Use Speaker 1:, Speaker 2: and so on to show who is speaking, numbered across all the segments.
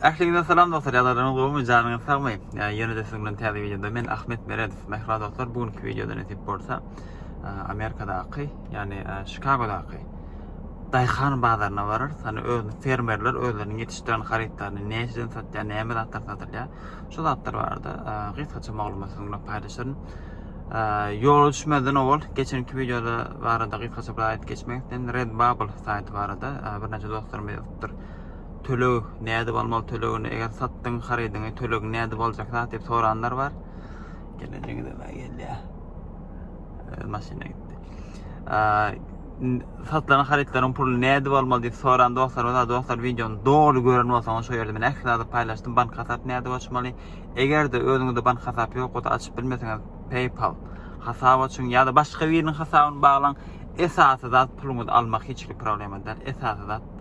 Speaker 1: Ähliňize salam dostlar, ýagdaýlaryňyz gowumy, janyňyz sagmy? Ýene-de siziň bilen täze wideoda men Ahmet Meredow. Mähriban dostlar, bu günki wideoda nesip bolsa, Amerikadaky, ýagny Çikagodaky daýhan bazaryna bararys. Hani öz fermerler özleriniň ýetişdiren harytlaryny näçeden satýar, näme zatlar satylýar? Şu zatlar barada gysgaça maglumat siziň bilen paýlaşaryn. Ýola düşmeden owal geçenki wideoda barada gysgaça bir aýdyp geçmek isledim. Redbubble saýty barada birnäçe dostlarym ýazypdyr. Töleg nädip almaly tölegini eger satdyň harydyňy tölegini nädip aljak zat diýip soranlar bar. Gelejegi de gelýär. Öz maşyna gitdi. Satylan harytlaryň puluny nädip almaly diýip soran dostlarymyz bar. Dostlar wideony doly gören bolsaňyz şu ýerde men ähli zady paýlaşdym. Bank hasap nädip açmaly? Eger de özüňizde bank hasap ýok, o da açyp bilmeseňiz PayPal hasap açyň ýa-da başga biriniň hasabyny baglaň. Esasy zat puluňyzy almak hiç bir problema däl. Esasy zat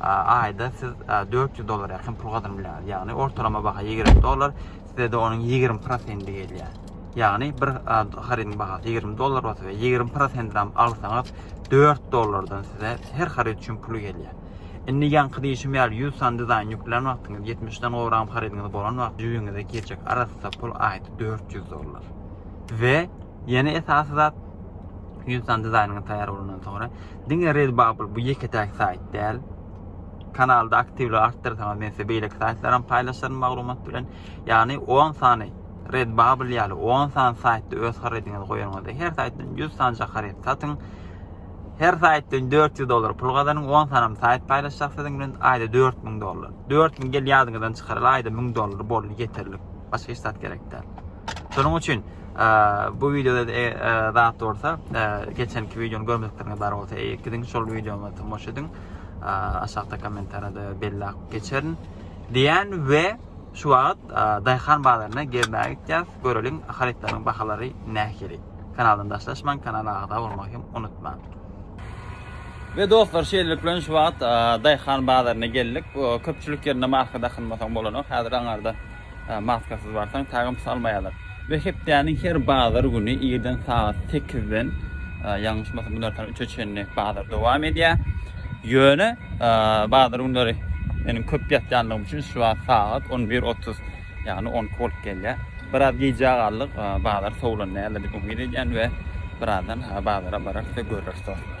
Speaker 1: aýda siz 400 dollara ýakyn pul gazanyp bilýäňiz. Ýagny ortalama baha 20 dollar, sizde de onuň 20 prosenti gelýär. Ýagny bir harydyň bahasy 20 dollar bolsa we 20 prosentini hem alsaňyz 4 dollardan size her haryt üçin pul gelýär. Indi ýaňky diýişim ýaly 100 san dizaýn ýüklän wagtyňyz 70 dan gowrak harydyňyz bolan wagt jübiňize geçjek arassa pul aýda 400 dollar. We ýene esasy zat 100 san dizaýnyňyz taýýar bolandan soňra Diňe Redbubble bu ýeke-täk saýt däl. Kanalda aktiwligi artdyrsaňyz men size beýleki saýtlaram paýlaşaryn maglumat bilen. Ýagny 10 sany Redbubble ýaly 10 sany saýtda öz harydyňyzy goýanyňyzda her saýtdan 100 sanja haryt satyň. Her saýtdan 400 dollar pul gazanyň. 10 sanam saýt paýlaşjak siziň bilen aýda 4000 dollar. 4000 gel ýadyňyzdan çykaryl aýda 1000 dollar boldy ýeterlik. Başga hiç zat gerek däl. Şonuň üçin Bu wideoda zat bolsa geçenki wideony görmedikleriňiz bar bolsa eýe gidiň şol wideoma tomaşa ediň. Aşakda kommentariýada bellap geçerin. Diýen we şu wagt daýhan bazaryna gezmäge gitýäs. Göreliň harytlaryň bahalary nähili. Kanaldan daşlaşmaň, kanala agza bolmagy hem unutmaň. Ve dostlar şeýlelik bilen şu wagt daýhan bazaryna geldik. Köpçülik ýerinde marka dakynmasaň bolanok. Häzir aňarda maskasyz barsaň tagym salmaýarlar. Ve hepdäniň her bazar güni irden saat 8-den ýalňyşmasam gündür saat 3-e çenli bazar dowam edýär. Ýöne bazar günleri meniň köp ýatýanlygym üçin şu wagt saat 11.30 ýagny 10 bolup gelýär. Biraz gijä galdyk, bazar sowlan näle diýip umyt edýän ve birazdan bazara bararys ve görüris.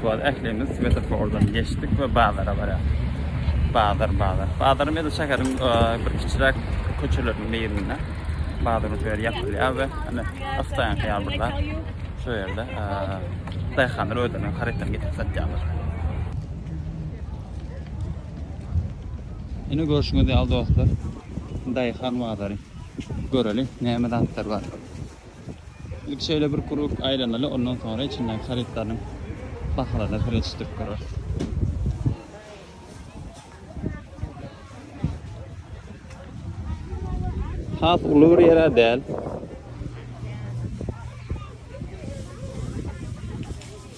Speaker 1: Şuwad ählimiz svetofordan geçdik we bazara barýar. Bazar, bazar. Bazar meda şäheriň e, bir kiçiräk köçeleriniň birinde. Bazar ötüyor yapylýar we hani astaýan hyýal burada. Şu ýerde e, daýhanlar özleriniň harytlaryny getirip satýarlar. Ine görşüňiz ýaly dostlar, daýhan bazary. Göreli, näme zatlar bar. Ilk şeýle bir krug aýlanaly, ondan soňra içindäki harytlaryň bahalaryna seretişdirip göreris. Has uly bir ýere däl.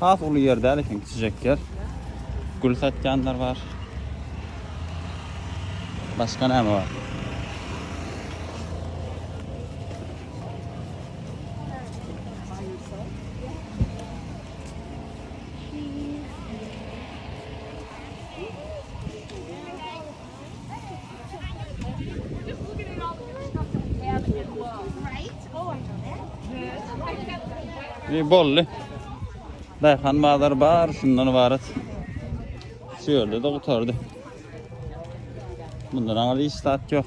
Speaker 1: Has uly ýer däl eken, kiçijek ýer. Gül satýanlar bar. Başga näme bar? Ýe bolly. Daýhan bazar bar, şundan ibarat. Şu ýerde de gutardy. Bundan aňry hiç zat ýok.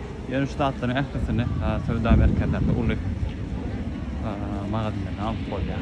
Speaker 1: Ýöne şu zatlaryň ählisini söwda merkezlerinde uly magazinlerden alyp bolýar.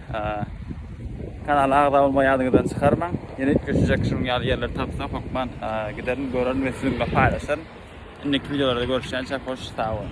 Speaker 1: Kanala agza bolmagy ýadyňyzdan çykarmaň. Ýene üýtgeşijek şunuň ýaly ýerleri tapsak, hökman giderin, görerin we siziň bilen paýlaşaryn. Indiki wideolarda görüşýänçä hoş, sag boluň!